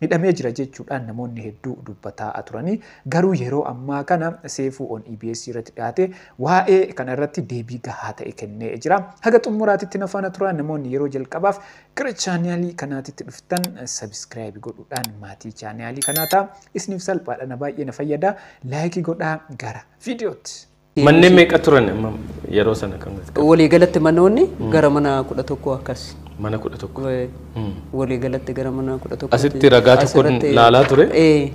Hidhamee jira jechuudhaan namoonni hedduu dubbataa aturanii garuu yeroo ammaa kana Seefuu on EBS irratti dhiyaatee waa'ee kana irratti deebii gahaa ta'e kennee jira. Haga xummuraatitti na faana turaa namoonni yeroo jalqabaaf gara chaaniyaalii kanaatitti dhuftan sabiskiraayibi godhuudhaan maatii chaaniyaalii kanaa ta'a. Isiniif salphaadha na baay'ee na fayyada. Laayikii godhaa gara viidiyootti. Manneen meeqa turan amma yeroo sana kan nuti qabu? Walii galatti manoonni gara mana kudha tokko akkas. Mana kudha tokko. Wee- Walii galatti gara mana kudha tokko. Asitti ragaa tokkoon laalaa ture. Ee.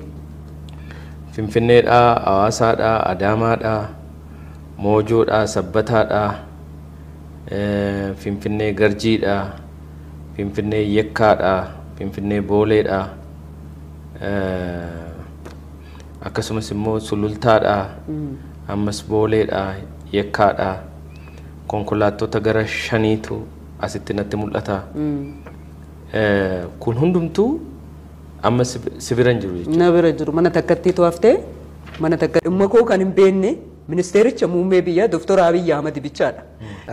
Finfinneedhaa, Hawaasaadhaa, Adaamaadhaa, Moojoodhaa, Sabbataadhaa, eh, Finfinnee Garjiidhaa, Finfinnee Yekkaadhaa, Finfinnee Booleedhaa, eh, akkasumas immoo Sulultaadhaa ammas Booleedhaa Yekkaadhaa konkolaattota gara shaniitu asitti natti mul'ata. Kun hundumtuu amma si bira hin jiru jechuudha. Na bira jiru mana takkatti to'aftee mana takka dhimma koo kan hin beekne ministeericha muummee biyyaa Dooktor Abiyyi Ahmad bichaadha.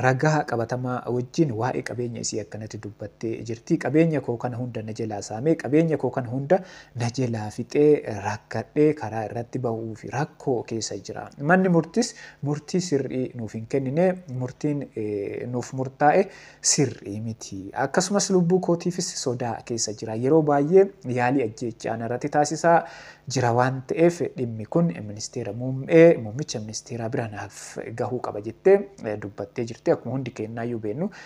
Ragaa qabatamaa wajjin waa'ee qabeenya isii akkanatti dubbattee jirti. Qabeenya koo kana hunda na jalaa saamee, qabeenya koo kana hunda na jelaa fixee rakkadhee karaa irratti bahuuf rakkoo keessa jira. Manni murtis murtii sirrii nuuf hin kennine, murtiin nuuf murtaa'e sirrii miti. Akkasumas lubbuu kootiifis sodaa keessa jira. Yeroo baay'ee yaalii ajjeechaa narratti taasisaa jira waan ta'eef dhimmi kun ministeera muummee, muummicha ministeeraa bira naaf gahuu qaba jettee dubbattee jirti. Akkuma hundi keennaayyuu beennu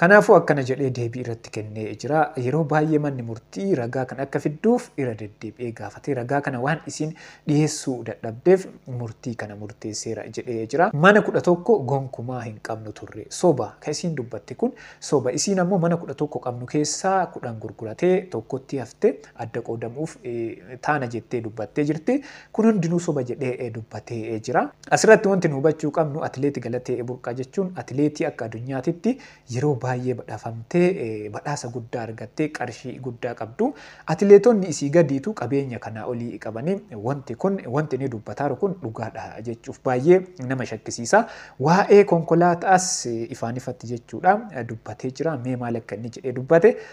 Kanaafuu akkana jedhee deebii irratti kennee jira, Yeroo baay'ee manni murtii ragaa kana akka fidduuf irra deddeebi'ee gaafatee ragaa kana waan isiin dhiheessuu dadhabdeef murtii kana murteesseera jedhee jira. Mana 11 gonkumaa hin qabnu turre. Soba! Kan isiin dubbatte kun soba. Isiin ammoo mana 11 qabnu keessaa 10 gurguratee tokkotti hafte. adda qoodamuuf taana jettee dubbattee jirti. Kun hundinuu soba jedhee dubbatee jira. Asirratti wanti nu hubachuu qabnu atileeti Galatee Burqaa jechuun atileetii akka adunyaatitti yeroo baay'ee badhafamtee badhaasa guddaa argattee qarshii guddaa qabdu. Atileetonni isii gadiitu qabeenya kanaa olii qabanii wanti kun wanti inni dubbataaru kun dhugaadha jechuuf baay'ee nama shakkisiisa. Waa'ee konkolaataas ifaan ifatti jechuudha dubbatee jira. Mee maal akka inni jedhee dubbate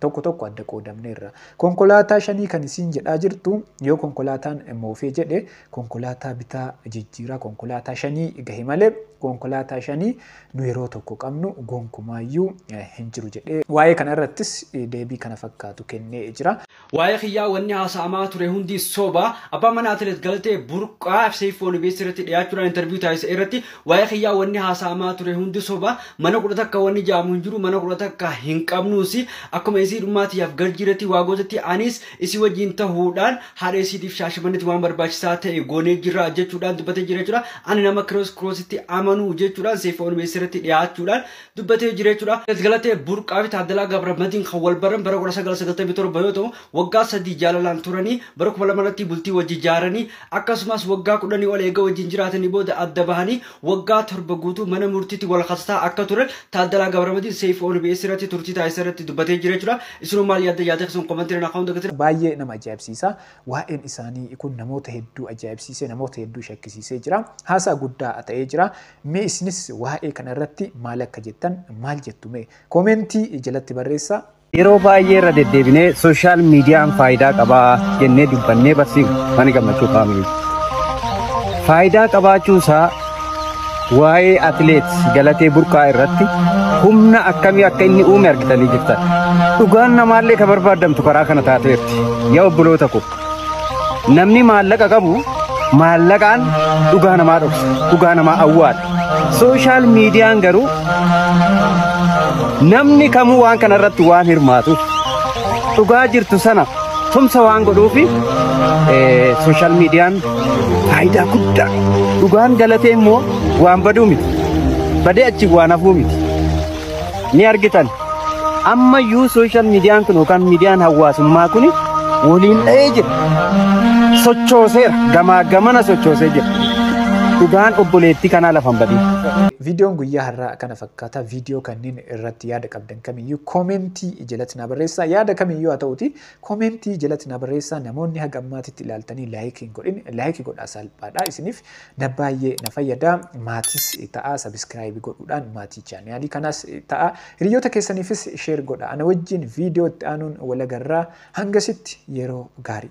Tokko tokko adda qoodamneerra. Konkolaataa shanii kan isiin jedhaa jirtu yoo konkolaataan moofee jedhe konkolaataa bitaa jijjiiraa konkolaataa shanii gahe malee konkolaataa shanii nu yeroo tokko qabnu gonkumaayyuu hin jiru jedhee waa'ee kana irrattis deebii kana fakkaatu kennee jira. Waa'ee kiyyaa wanni haasa'amaa ture hundi soba. Abbaan manaa Atileet Galatee Burqaa FCFO-nbs irratti dhiyaachuudhaan interview taasise irratti Waa'ee kiyyaa wanni haasa'amaa ture hundi soba mana kudha takka wanni jaamu hin jiru mana kudha takka hin qabnuus akkuma isii dhummaa tiyyaaf garjiirratti waa gootatti anis isii wajjiin tahuudhaan haadha isiitiif shaashamannetti waan barbaachisaa ta'e goonee jirra jechuudhaan dubbatee jira jechuudha ani nama kiroos kiroositti amanu jechuudhaan seefa onbeessa irratti dhiyaachuudhaan dubbatee jira jechuudha. Galatee Burqaa fi Taaddalaa Gabramadiin kan wal baran bara 1997 yoo ta'u Waggaa sadii jaalalaan turanii bara 2000 irratti bultii wajji jaaranii akkasumas waggaa kudhanii ol eega wajjin jiraatanii booda adda bahanii waggaa torba guutuu mana murtiitti wal kasasaa akka turan Taaddalaa Gabramadiin Seeyfuu ONBS irratti turtii taasisa irratti dubbatee jira jechuudha. Isinoo maal yaadda yaada keessan komantiirra naa kaa'uun dagatina. Baay'ee nama ajaa'ibsiisa. Waa'een isaanii kun namoota hedduu ajaa'ibsiisee namoota hedduu shakkisiisee jira. Haasaa guddaa ta'ee jira. Mee isinis waa'ee kana irratti maal akka jettan maal jettu mee koomeentii jalatti barreessaa. Yeroo baay'ee irra deddeebinee sooshaal miidiyaan faayidaa qabaa jennee dubbannee barsiifnu mana gammachuu faamilii. Faayidaa qabaachuu isaa waa'ee atileet Galatee Burqaa irratti humna akkamii akka inni uume argitanii jirtan. Dhugaan namaallee kan barbaadamtu karaa kana taateerti. Yaa obboloota koo. Namni maallaqa qabu maallaqaan dhugaa namaa dhoksa, dhugaa namaa awwaala. Sooshaal miidiyaan garuu namni kamuu waan kana irratti waan hirmaatu dhugaa jirtu sana tumsa waan godhuufi sooshaal miidiyaan faayidaa guddaa dhugaan galatee immoo waan baduu miti badee achi waan hafuu miti. ni argitan. Ammayyuu sooshaal miidiyaan kun yookaan miidiyaan hawaasummaa kun waliin dha'ee jira. Sochooseera. Gamaa gamana sochoosee jira. Dhugaan obboleettii kanaa lafa hin badin. Viidiyoon guyyaa har'aa kana fakkaata. Viidiyoo kanneen irratti yaada qabdan kamiyyuu koomentii jalatti na barreessaa. Yaada kamiyyuu haa ta'uti koomentii jalatti na barreessaa. Namoonni haga ammaatitti ilaaltanii laayikii hin godhin laayikii godhaa salphaadha isiniif. na baay'ee na fayyada maatis ta'a sabiskiraayibi godhuudhaan maatii chaaniyaalii kanaas ta'a hiriyoota keessaniifis sheer godha ana wajjiin viidiyoo itti aanuun walagarraa hangasitti yeroo gaarii.